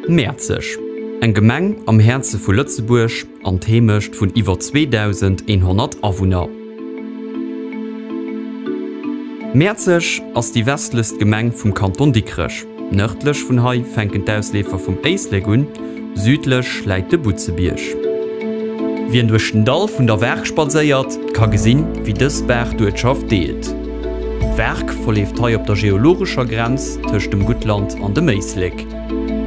Mäerzeg, eng Gemeng am Häerze vu Lëtzebuerg. an d'Heemecht vun iwwer 2.100 Awunner. Mäerzeg ass déi westlechst Gemeng vum Kanton Dikrech. Nërdlech vun hei fänken d'Ausleefer vum Éislek un, südlech läit de Butzebierg. Wien duerch den Dall vun der Waark spadséiert, ka gesinn, wéi dës Baach d'Uertschaft deelt. D'Waark verleeft hei op der geologescher Grenz tëscht dem Guttland an dem Éislek.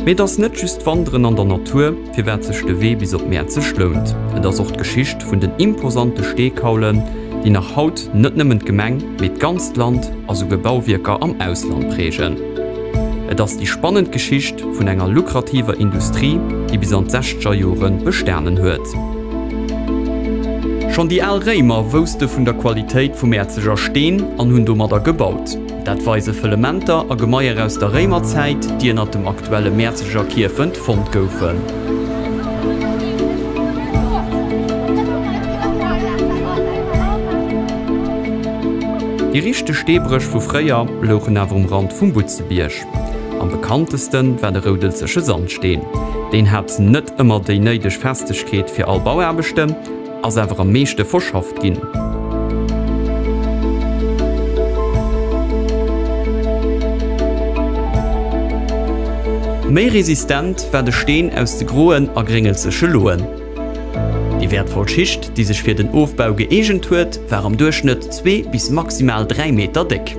Mee et ass net just d'Wanderen an der Natur. firwat sech de Wee bis op Mäerzeg lount. Et ass och d'Geschicht vun den imposante Steekaulen, déi nach haut net nëmmen d'Gemeng, mee d'ganzt Land a souguer Bauwierker am Ausland prägen. Et ass déi spannend Geschicht vun enger lukrativer Industrie, déi bis an d'sechzeger Jore bestanen huet. Schonn déi al Réimer wousste vun der Qualitéit vum Mäerzeger Steen an hunn domadder gebaut. Dat weise Fëllementer a Gemaier aus der Réimerzäit, déi ënnert dem aktuelle Mäerzeger Kierfent fonnt goufen. Déi richteg Steebréch vu fréier louchen awer um Rand vum Butzebierg. Am bekannteste war de Roudelzeche Sandsteen. Deen hat net ëmmer déi néideg Festegkeet fir all Bauaarbechte. Ass awer am meeschte verschafft ginn. Méi resistent war de Steen aus de groen a gréngelzege Loen. Déi wäertvoll Schicht, déi sech fir den Ofbau gëeegent huet, war am Duerchschnëtt zwee bis maximal dräi Meter déck.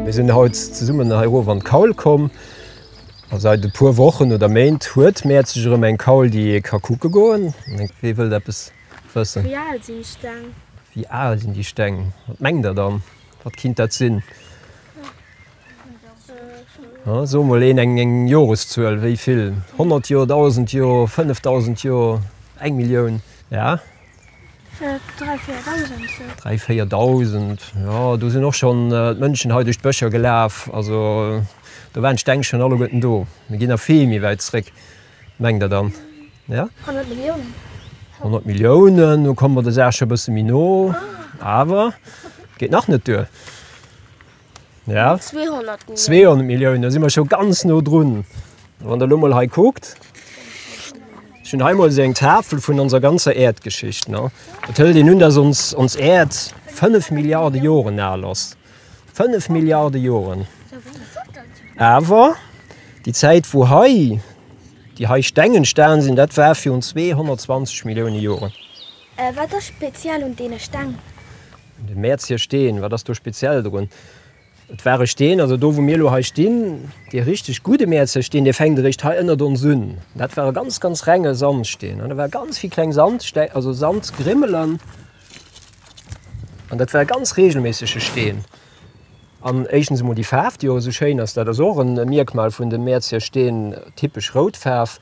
Mir sinn haut zesummen hei erof an d'Kaul komm. A seit e puer Wochen oder Méint huet Mäerzeg erëm eng Kaul, déi ee ka kucke goen. Wee wëllt eppes wëssen? Wéi al sinn d'Steng? Wéi al sinn déi Steng? Wat mengt der dann? Wat kinnt dat sinn? Soe mol een eng Joreszuel. Wéi vill? Honnert Joer? Dausend Joer? Fënnef dausend Joer? Eng Millioun? Ja, Dräi, véier Dausend sou. Dräi, véier Dausend, jo. Do sinn och schonn d'Mënschen hei duerch d'Bëscher gelaf. Also do waren d'Steng schonn alleguerten do. Mir ginn nach vill méi wäit zréck, mengt Der dann? Ja? Honnert Milliounen. Honnert Milliounen, do komme mer der Saach scho e bësse méi no. Awer et geet nach net duer. Ja. 200 Millionen. 200 Millioun, da si mer scho ganz no drun. Wann der Lummel hei kuckt, hun heimol se eng Tafel vun onser ganzer Erdgeschicht. Et hëll den hun, dass ons ons Äerd 5 Milliarden Joren al ass. 5 Milliarden Joren. Awer die Zäit wou hei die hei Steng entstanen sinn, dat war virun 220 Millioune Joren. Wat ass speziell un deene Steng? Den Mäerz hir Steen, wat ass do speziell drun? Et war e Steen, also do wou mir elo hei stinn, dee richteg gudde Mäerzer Steen, dee fänkt eréischt hei ënnert ons un. Dat war e ganz ganz renge Sandsteen an do war ganz vill kleng Sandsteng, also Sandgrimmelen an dat war e ganz reegelméissege Steen. An éischtens emol déi Faarf, déi och esou schéin ass, dat ass och e Mierkmal vun de Mäerzger Steen, typesch rout Faarf.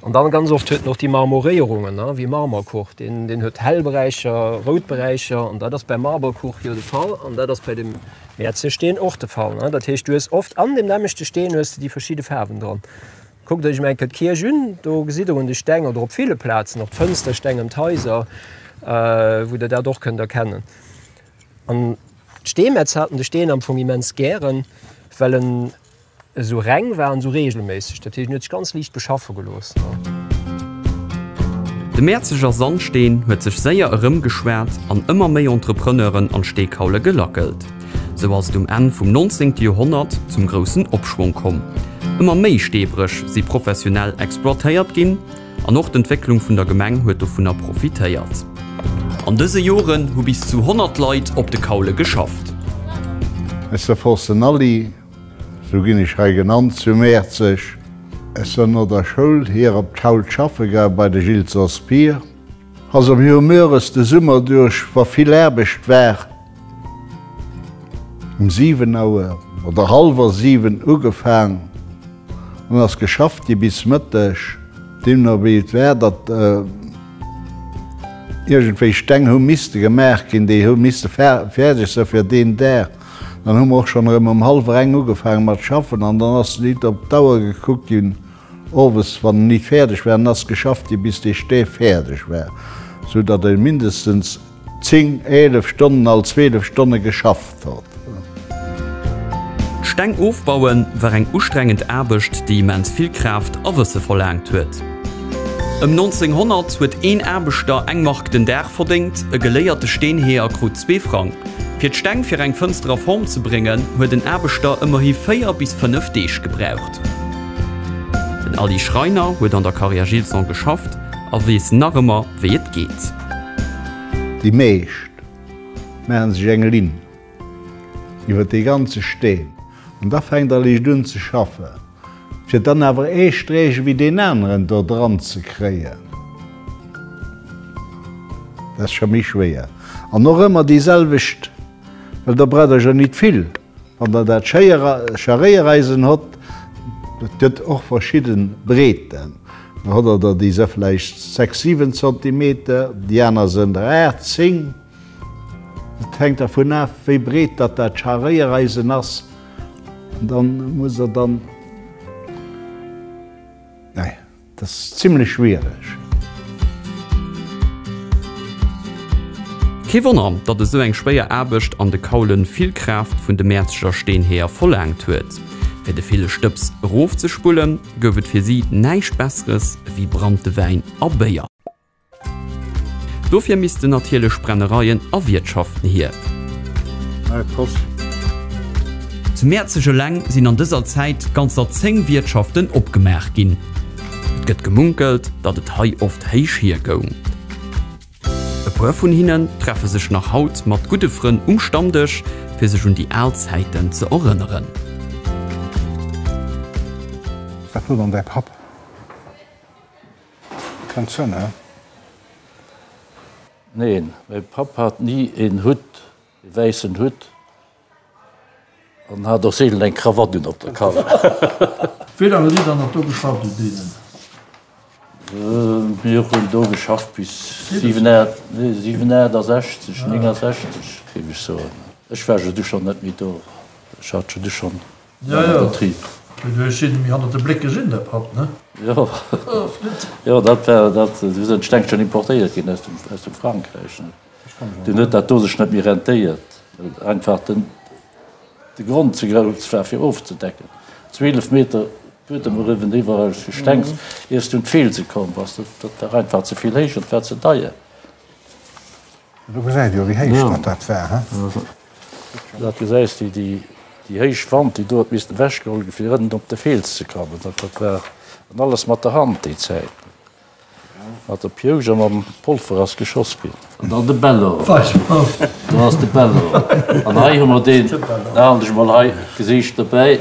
An dann ganz oft huet en och déi Marmoréierungen, ne, wéi Marmorkuch, deen, deen huet hell Beräicher, rout Beräicher. An dat ass beim Marmorkuch jo de Fall an dat ass bei dem Mäerzger Steen och de Fall, ne. Dat heescht, du hues oft an deem nämmlechte Steen hues de déi verschidde Faarwen dran. Kuckt iech elo eng Kéier d'Kierch un, do gesitt der un de Stäng oder op ville Plazen och d'Fënstersteng ëm d'Haiser, wou der dat och kënnt erkennen. An d'Steemetz haten de Steen am Fong immens gären, well en esou reng war an esou reegelméisseg. Dat heescht, en huet sech ganz liicht beschaffe gelooss. De Mäerzeger Sandsteen huet sech séier erëmgeschwat an ëmmer méi Entrepreneuren an d'Steekaule gelackelt. Sou ass et um Enn vum 19. Joerhonnert zum groussen Opschwong komm. Ëmmer méi Steebréch si professionell exploitéiert ginn. An och d'Entwécklung vun der Gemeng huet dovunner profitéiert. An dëse Joren hu bis zu 100 Leit op de Kaule geschafft. Aus der Fosse Nally, sou ginn ech hei genannt, zu Mäerzeg. Aus der no der Schoul hier op d'Kaul schaffe gaang bei de Gilles Sospir. Ass am Joer Mörres de Summer duerch, wa vill Aarbecht war. Um 7 Auer oder hallwer 7 ugefaang an ass geschafft gi bis Mëtteg. Deemno wéi et war, datt iergendwéi Steng hu misste gemaach ginn, déi hu misste fäerdeg sou fir deen Dag, dann hu mer och schonn erëm um hallwer eng ugefaange mat schaffen an dann ass nit op d'Auer gekuckt ginn owes, wann nit fäerdeg war, an ass geschafft gi bis dee Stäf fäerdeg war, sou datt e mindestens. 10, 11 Stonnen all 12 Stonne geschafft huet. D'Steng ofbauen war eng ustrengend Aarbecht, déi immens vill Kraaft a Wësse verlaangt huet. Ëm 1900 huet een Aarbechter eng Mark den Dag verdéngt, e geléierte Steenheeër krut zwee Frang. Fir d'Steng fir eng Fënster a Form ze bréngen, huet en Aarbechter ëmmerhi véier bis fënnef Deeg gebraucht. Den Aly Schreiner huet an der Carrière Gilson geschafft a weess nach ëmmer, wéi et geet. Déi meescht maache sech eng Linn iwwer dee ganze Steen an da fänkt all Eescht un ze schaffen, fir dann awer ee Sträech ewéi deen aneren do dran ze kréien. Dat ass scho méi schwéier an och ëmmer déi selwecht, well der braucht der jo nit vill. Wann der dat Scharréiereisen hott, et gëtt och verschidde Breeten, da hott der der, déi se vläicht sechs, siwen Zentimeter, déi aner sen der aacht, zéng. Et hänkt dervun af, wéi breet datt dat Scharréiereisen ass. Dann musst der dann, nee. Dat ass zimlech schwiereg. Kee Wonner, datt esou eng schwéier Aarbecht an de Kaulen vill Kraaft vun de Mäerzeger Steenheeër verlaangt huet. Fir de ville Stëbs erofzespullen, gouf et fir si näischt Besseres ewéi Branntewäin a Béier. Dofir missten natierlech Brennereien a Wiertschaften hier. Zu Mäerzeg eleng sinn an dëser Zäit ganzer 10 Wiertschaften opgemaach ginn. Et gëtt gemunkelt, datt et hei oft héich hier goung. E puer vun hinnen treffe sech nach haut mat gudde Frënn um Stammdësch, fir sech un déi al Zäiten ze erënneren. Wat wëll dann däi Papp? Kent Sënn, he? Neen, mäi Papp hat ni een Hutt, ee wäissen Hutt, an hat och seelen eng Krawatt un op der Kap. Wéi laang hutt Dir dann nach do geschafft u deenen? Mir hunn do geschafft bis 67, 69, géif ech soen. Ech war jo du schonn net méi do. Ech hat jo du schonn Jo jo, mee du hues jiddermi hannert de Bléck gesinn, der Papp, ne? Jo, jo, dat war dat. Du hues en Steng schonn importéiert ginn aus dem aus dem Frankräich, ne? Dun huet dat do sech net méi rentéiert, well einfach den de Grond ze grouss war fir ofzedecken. 12 Meter Buedem eriwwen, iwwerall Gestengs, iers du un d'Felse komm bass. Dat war einfach ze vill héich an et war ze deier. Do gesäit jo wéi héich dat dat war he. Daat gesäis de déi héich Wand déi do huet missten ewech geholl gi fir erënnen op de Fels ze kommen. Dat dat war an alles mat der Hand déi Zäit. Mat der Piousch a mam Polfer ass geschoss ginn. An dann de Bello. Do ass de Bello. An hei hu mer deen, da han ech emol hei gesicht dobäi.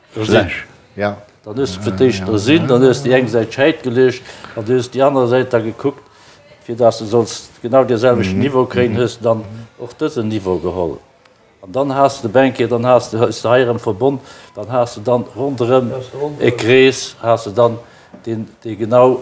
Gelécht. Jo. Dann hues de fir d'éischt ersinn, dann hues déi eng Säit scheit gelécht an du hues déi aner Säit da gekuckt, fir dass de solls genau dee selwechten Niveau kréien, hues de dann och dësen Niveau geholl. An dann has de de Banquier, dann has de, hues de hei erëm verbonn, dann has de dann ronderëm e Krees, has de dann deen, dee genau.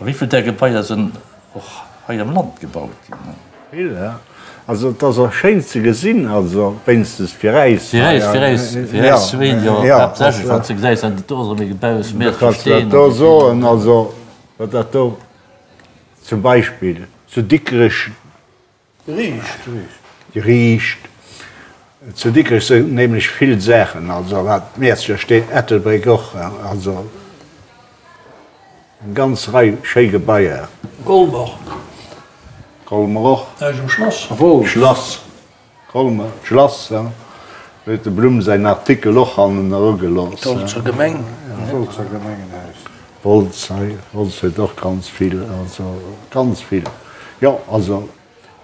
A wéivill där Gebaier sinn och hei am Land gebaut ginn? Vill, ja. Also et ass och schéin ze gesinn, also wéinstens fir äis hei. Fir äis, fir äis, fir äis zwee, jo, haaptsächlech wann s de gesäis, dat do ass erëm ee Gebaus, Meer vu Steen. Do soen, also wat dat do zum Beispill zu Dikrech. Riicht, riicht. Riicht. Zu Dikrech sinn nämlech vill Saachen, also wat d'Mäerzger steet, Ettelbréck och, also eng ganz Rei schéi Gebaier. Colmer. Colmer och. Hei ass e Schlass. Wolz. Schlass. Colmer, d'Schlass, ja. Do huet de Blum säin Artikel och hannen erugelooss. D'Wolzer Gemeng. D'Wolzer Gemengenhaus. Holz, hei, Holz huet och ganz vill, also ganz vill, jo, also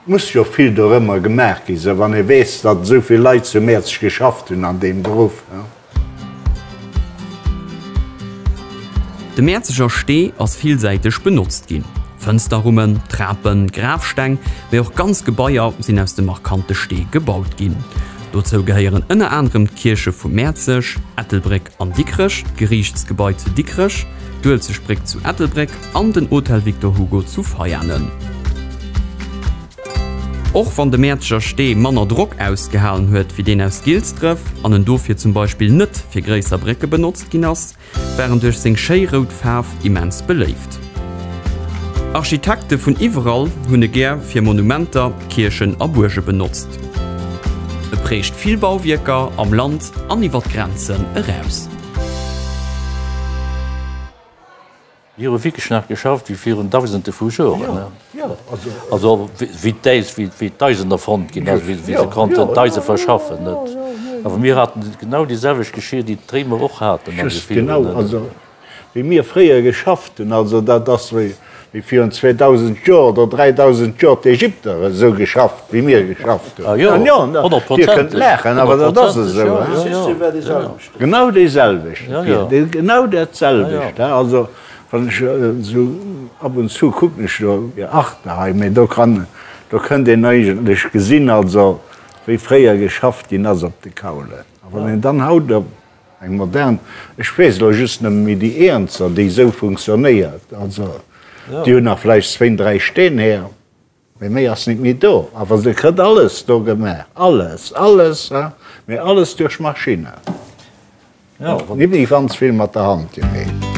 muss jo vill dorëmmer gemaach gi se wann ee weess, datt esou vill Leit zu Mäerzeg geschafft hunn an deem Beruff. De Mäerzeger Stee ass villsäiteg benotzt ginn. Fënsterrummen, Trapen, Grafsteng, mee och ganz Gebaier sinn aus dem markante Stee gebaut ginn. Dozou gehéieren ënner anerem d'Kierche vu Mäerzeg, Ettelbréck, An Dikrech, d'Geriichtsgebai zu Dikrech, d'Uelzecht Bréck zu Ettelbréck an den Hotel Victor Hugo zu Veianen. Och wann de Mäerzeger Stee manner Drock ausgehalen huet wéi deen aus Gilsdref an en dofir zum Beispill net fir gréisser Brécke benotzt ginn ass, war en duerch seng schéi rout Faarf immens beléift. Architekte vun iwwerall hunn e gär fir Monumenter, Kierchen a Buerge benotzt. E prägt vill Bauwierker am Land an iwwer d'Grenzen eraus. Mir hu wierklech nach geschafft wéi virun dausende vu Joren. Also wéi d'Äis, wéi d'Eisen erfonnt ginn ass, wéi se konnten d'Eise verschaffen. Awer mir haten genau déi selwecht Geschier, déi d'Réimer och haten. wéi mir fréier geschafft hunn, also dat ass wéi virun 2.000 Joer oder 3.000 Joer d'Ägypter esou geschafft, wéi mir geschafft hunn. Jo, Dir kënnt laachen, awer dat ass esou. De System war dee selwechten. Genau dee selwechten, genau dat selwecht. Also wann ech esou ab und zu kucken ech do fir Arte hei, mä do kann, do kënnt een eigentlech gesinn, also wéi fréier geschafft ginn ass op de Kaulen. A wann een dann haut op. Eng modern, ech weess elo just nëmme méi déi eenzer, déi esou funktionéiert. Also déi hu nach vläicht zwéin, dräi Steen här, mee méi ass nit méi do. Awer se kritt alles do gemaach, alles, alles, hein, mee alles duerch Maschinne, nit méi ganz vill mat der Hand gemeet.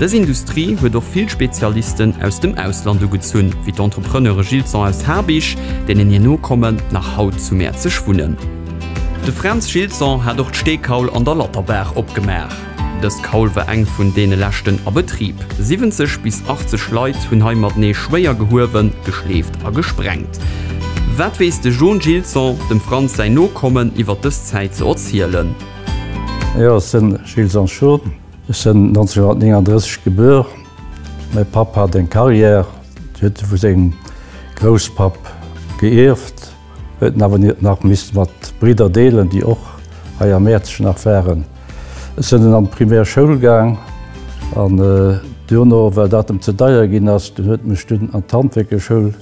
Dës Industrie huet och vill Spezialisten aus dem Ausland ugezunn, wéi d'Entrepreneure Gilson aus Habich, deenen hir Nokommen nach haut zu Mäerzeg wunnen. De Fränz Gilson hat och d'Steekaul an der Latterbaach opgemaach. Dës Kaul war eng vun deene leschten a Betrib. 70 bis 80 Leit hunn hei matenee schwéier gehuewen, geschleeft a gesprengt. Wat weess de John Gilson, dem Frantz säin Nokommen, iwwer dës Zäit ze erzielen? Jo, ech sinn Gilles Sancho. Ech sinn 1939 gebuer. Mäi Papp hat eng Carrière, déi huet e vu sengem Grousspapp geierft, huet en awer nach misst mat Bridder deelen, déi och hei am Mäerzeg nach waren. Ech sinn dunn an d'Primaire Schoul gaang an duerno, well dat em ze deier ginn ass, huet en mech dunn an d'Handwierkerschoul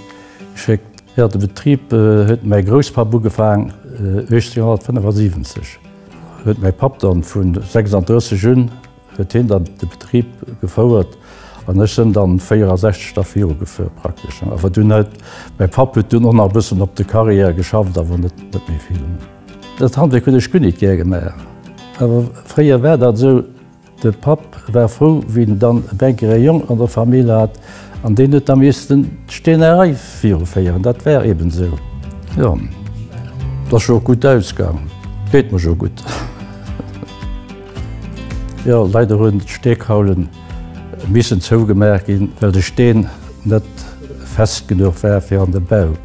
Schéck. Jo, de Betrib huet mäi Grousspapp ugefaang, 1875 huet mäi Papp dann, vu 36 un huet hien dann de Betrib gefouert an ech sen dann 64 da virugefuer praktesch. Awer dunn huet mäi Papp huet dunn och nach e bëssen op de Carrière geschafft, awer net net méi vill. Dat Handwierk hunn ech guer nit gär gemaach, awer fréier war dat esou. De Papp war frou, wéi en dann e Bänkere Jong an der Famill hat, an deen huet da miissten d'Steenerei viruféieren. Dat war eben esou. Jo, 't ass jo och gutt ausgaangen. 't geet mer jo gutt. Jo, leider hunn d'Steekaule missen zougemaach ginn, well de Steen net fest genuch war fir an de Bau.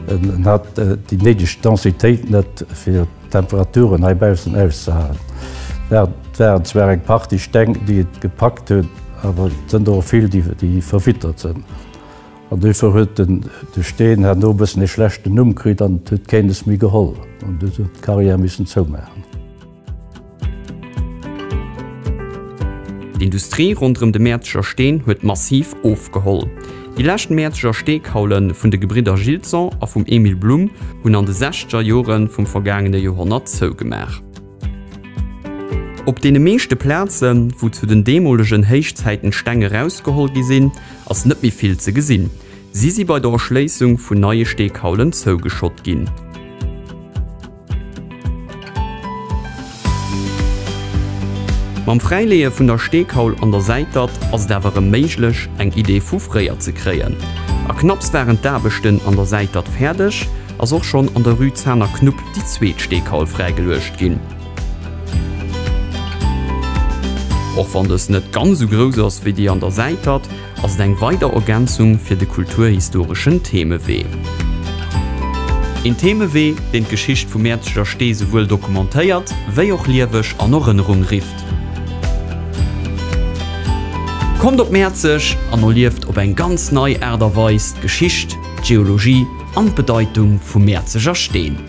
En hat déi néideg Densitéit net fir Temperaturen hei baussen auszehalen. Dat waren zwar eng Partie Steng, déi et gepackt hunn, awer et sënn der och vill, déi verwittert sënn. An duerfir huet de Steen herno e bëssen e schlechten Numm kritt an et huet keenes méi geholl. An du huet d'Carrière missen zoumaachen. D'Industrie ronderëm de Mäerzeger Steen huet massiv ofgeholl. Déi lescht Mäerzeger Steekaule vun de Gebridder Gilson a vum Emile Blum hunn an de sechzeger Jore vum vergaangene Joerhonnert zougemaach. Op deene meeschte Plazen, wou zu den deemolegen Héichzäiten d'Steng erausgeholl gi sinn, ass net méi vill ze gesinn. Si si bei der Erschléissung vun neie Steekaulen zougeschott ginn. Mam Fräileeë vun der Steekaul an der Säitert ass et awer erëm méiglech, eng Idee vu fréier ze kréien. A knapps waren d'Aarbechten an der Säitert fäerdeg, ass och schonn an der Rue Zaner Knupp déi zweet Steekaul fräigeluecht ginn. Och wann dës net ganz esou grouss ass wéi déi an der Säitert, Ass et eng weider Ergänzung fir de kulturhistoreschen Themewee. Een Themewee, deen d'Geschicht vum Mäerzeger Stee souwuel dokumentéiert, wéi och lieweg an Erënnerung rifft. Kommt op Mäerzeg an erlieft op eng ganz nei Aart a Weis d'Geschicht, d'Geologie an d'Bedeitung vum Mäerzeger Steen.